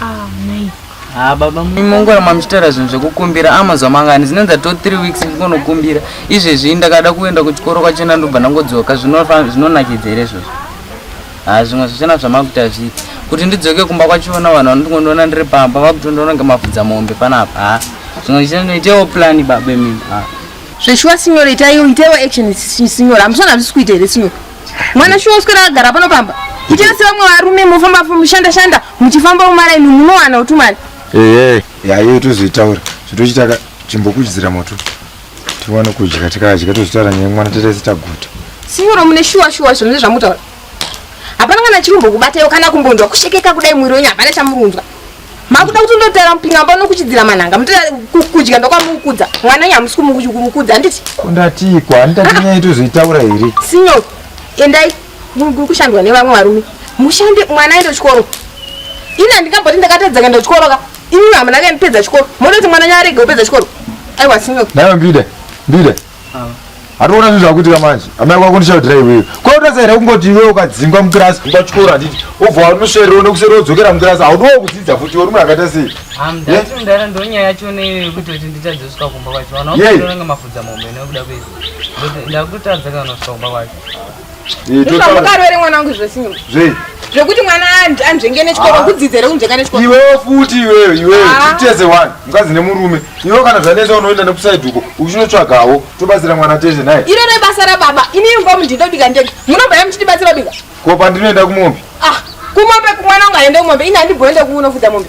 Ah, mai. Ah, baba mongora mamuchitaura zvinhu zvekukumbira amazuva ah, mangani zvinonza to three weeks ndikonokumbira izvezvi ndakada kuenda kuchikoro kwachena ndobva ndangodzoka zvinonakidza here izvozvo ha ah, zvimwe zvichena zvamakuita zviti kuti ndidzoke kumba kwachivona vanhu vanondikondiona ndiri pamba vakutondiona ngemafudza mombe panapa ha zvimwe zvichena noitewo plani babe mimi ha zveshuwa sinyora itaiwo itaiwo action sinyora hamusona hazvisi kuita here sinyora mwana shuwa uswera akagara pano pamba kuchese vamwe varume mofamba mushanda shanda muchifamba umaraini munowana uti mari ehe yayo tozoitaura zvitochitaka chimbokuchidzira moto tiwane kudya tikadya tozvitaura nyaya mwana tataise taguta sinyoro mune shuwa shuwa zvinhu zvezvamutaura hapana kana chirumbo kubatayo kana kumbonzwa kushekeka kudai mwiri wenyu hapana chamurunzwa makuda kuti ndotera mupingamba unokuchidzira manhanga mutira kudya ndokwamukudza mwana nyi hamusi kumukudza handiti ndatiiko handitatinyaya tozoitaura here sinyoko endai muri kushandwa nevamwe varume mushande mwana aende kuchikoro ini handingamboti ndakatadza kuenda kuchikoro ka ini hamuna kaendipedza chikoro moda kuti mwana nyaarege upedza chikoro aiwa sinyoko naiwa mbida mbida Hatoona zvinhu zvakuitika manje. Amai kwako ndishaudira iwewe. Kwa utasa here kungoti iwewe ukadzingwa mukirasi kumba chikoro handiti. Obva wanoswera uno kuseri wodzokera mukirasi. Haudiwo kudzidza futi uri munhu akaita sei? Ah, ndati mudara ndonyaya yacho neiwe yekuti kuti nditadzosvika kumba kwacho. Vana vakutoranga mafudza mombe nekuda kwezvo. Ndakutadza kana kusvika kumba kwacho. mukarwere mwana wangu zvese zvei zvekuti mwana anzvenge nechikoro ah. kudzidza here kunzvenga nechikoro iwewo futi iwewe iwewe ah. tese one mukadzi nemurume iwewe kana zvanetsa unoenda nekusaidi uko uchinotsvagawo tobatsira mwana tese naye iro rebasa rababa ini imba mundinda kubika ndege munobva ye muchitibatsira kubika ko pandinoenda kumombe ah kumombe kumwana ungaende kumombe ini handibhoende kuunofudza mombe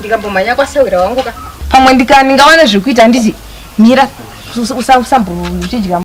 ndikambomhanya kwasewera wangu ka pamwe ndika ndingawana zvekuita handiti mira usambouchidya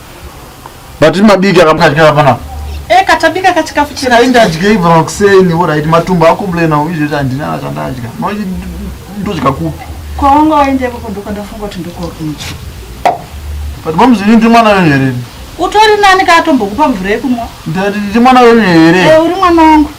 But mabiki akamukadya hapana. Eh katabika kachikafu chira. Kainda adye ibva makuseni ora iti matumbo ako blena uizve chandina chandadya. Manje ndodya kupi? Kwaonga waende kwa kondoka ndafunga kuti ndiko kunchi. But momzi ndi mwana wenyu here? Utori nani ka atombokupa mvura yekumwa? Ndi mwana wenyu here? Eh uri mwana wangu.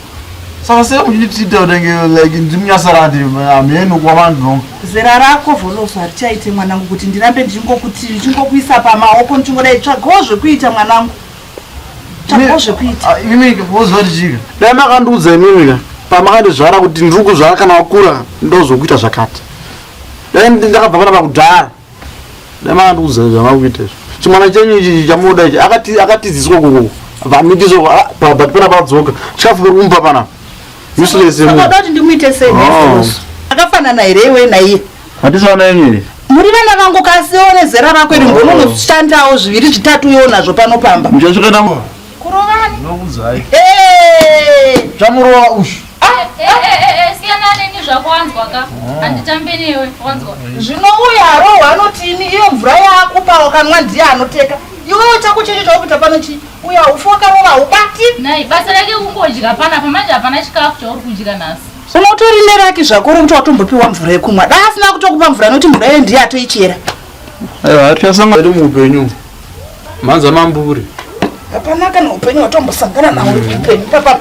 saka sei muchitiita kutenge like ndimunyasarandi hamheno kuva vandinonga zera rako voloso harichaite mwanangu kuti ndirambe ndichingokuti ndichingokuisa pamaoko ndichingodai tsvagawo zvekuita mwanangu tsvagawo zvekuita ah, imimika voziva tichika dai makandiudza imimika pamakandizvara kuti ndiri kuzvara kana wakura ndozokuita zvakati dai ndakabva panapa kudhara ndamandikuudza zvamakuita izvo chimwana chenyu ichi chamunoda ichi akatiziswa kuku vamidizvo but pana padzoka chikafu pari kumba pana useless yemunoda kuti ndimuite sei oh. akafanana here iwe naiye hatisi vana yenyu here muri vana vangu kasi one zera rako iri oh. mbononoshandawo zviviri zvitatu uyo nazvo panopamba muchasvika navo Kurovani. Ndinokudzai. Hey! Chamurova ushu. Ah, eh, eh, eh, eh siyana neni zvako wanzwa ka. Oh. Handitambe newe, wanzwa. Zvino uyu Harohwa anoti ini iyo mvura yakupa wakanwa ndiye anoteka. Iwewe chako checho chawakuita pano chii? Uya ufu wakarova ubati. Nai, basa rake kungodya pana pamanje hapana chikafu chauri kudya nhasi. Unotori neraki zvako rokuti watombopiwa mvura yekumwa. Dai asina kutokupa mvura noti mvura iyo ndiye atoichera. Aiwa hatichasanga iri muupenyu. Mhanza mamburi. Hapana kana upenyu watombosangana nawo uri muupenyu. Papa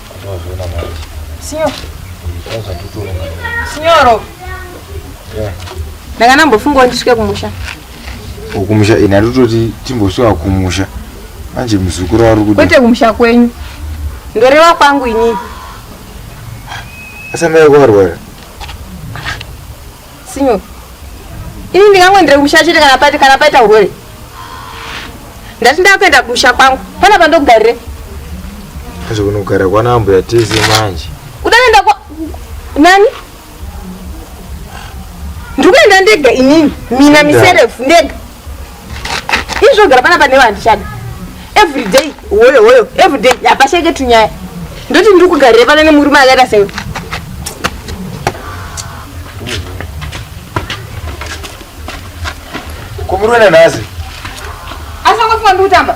Signor. Signoro. Yeah. Ndanga nambofunga ndisvike kumusha. Kumusha ini atototi timbosvika kumusha. Manje muzukuru ari kuda. Kwete kumusha kwenyu. Ndoreva kwangu ini. Asa mai kwarwara. Sinyo. Ini ndingangoendera kumusha chete kana paita kana paita urwere. Ndati ndakuenda kumusha kwangu. Pana pandogarire. Hazvo kunogara kwana ambuya tese manje. Udaenda kwa nani? Ndikuenda ndega inini. Mina miserefu ndega. izvo gara panapa newe handichada everyday hoyo hoyo everyday hapasheke tunyaya ndoti ndiri kugarire pana nemurume akaita sewe kumurume nanhazi asangofunga ndiri kutamba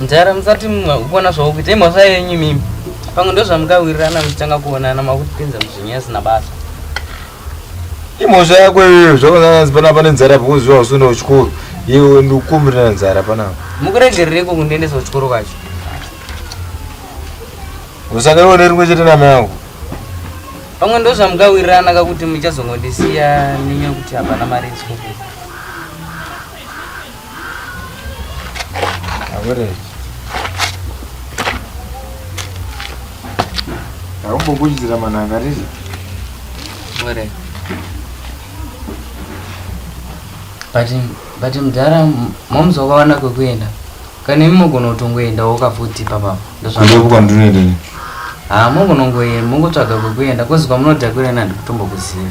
mdhara musati kuona zvakuita imhosva yenyu mimi pamwe ndozvamukawirirana muchitanga kuonana makutipinza muzvinyaya zvisina basa imhosva yako iyoyo zvakananzi panapa nenzara pakuziva usina uchikoro iwe ndikukumbirira nzara panapa mukuregerereko kundiendesa uchikoro kwacho usangaiwo nerimwe chete nama yangu pamwe ndo zvamukawirirana kakuti muchazongondisiya nenyaya kuti hapana mari yechikoro Akumbokuchidzira mananga rizi. Where? But but mdhara momzi wakawana kwekuenda. Kana imi mogona kutongoenda wokavhuti papa. Ndozvandiri kwandinoenda. Ah, mogonongoenda, mongotsvaga kwekuenda, kozi kwamunodhakwira nandi kutombokuziva.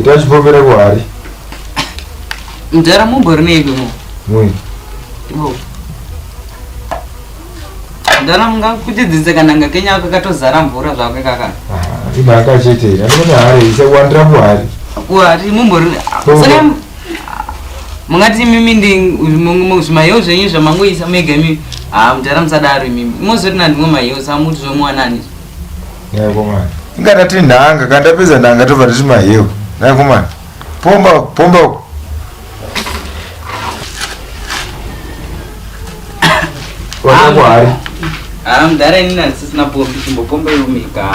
Ita chipomera kuhari. Mdara mumbo rinei kuno? Mwe. Ibo. Mdara munga kuchidzidze kananga kenya ako katozara mvura zvako kaka. Ah, imaka chete. Ndinoona hari isa kuwandira kuhari. Kuhari mumbo rinei. Saka mungati imimi ndizvimahiyo zvenyu zvamangoisa mega imimi haa mudhara musadaro imimi imozoti nandimwe mahiyo samuti zvomuwanani naikomana ingata ti nhanga kana tapedza nhanga tobva titi mahiyo naikomana pomba pomba wanakwari haa mudhara ini nandisisina pombi chimbopomba iwo mega